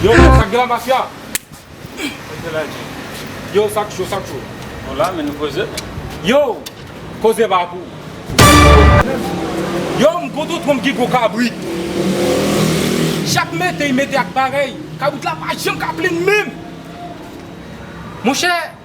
Yo men sak gen la mafya. Yo sak cho sak cho. Nou la men nou koze. Yo koze pa pou. Yo m kontan twom gen gwo kabrit. Chak mete y mete ak parèy. Kabrit la pa janm ka plenn menm. Monchè.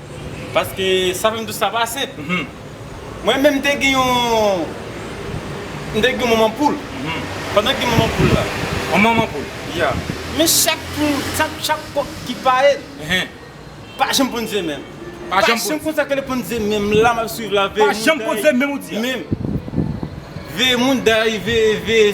Paske sa fèm tou sa pa senp. Mwen menm mte gen yon mte gen yon manman poul. Pandan gen manman poul la. Yon manman poul. Ya. Men chak poul chak kòk ki pa el. Pa janm ponn ze menm. Pa janm konn sa kèl ponn ze menm la map swiv la veye moun. Pa janm ponn ze menm ou di a. Menm. Veye moun dèy veye veye.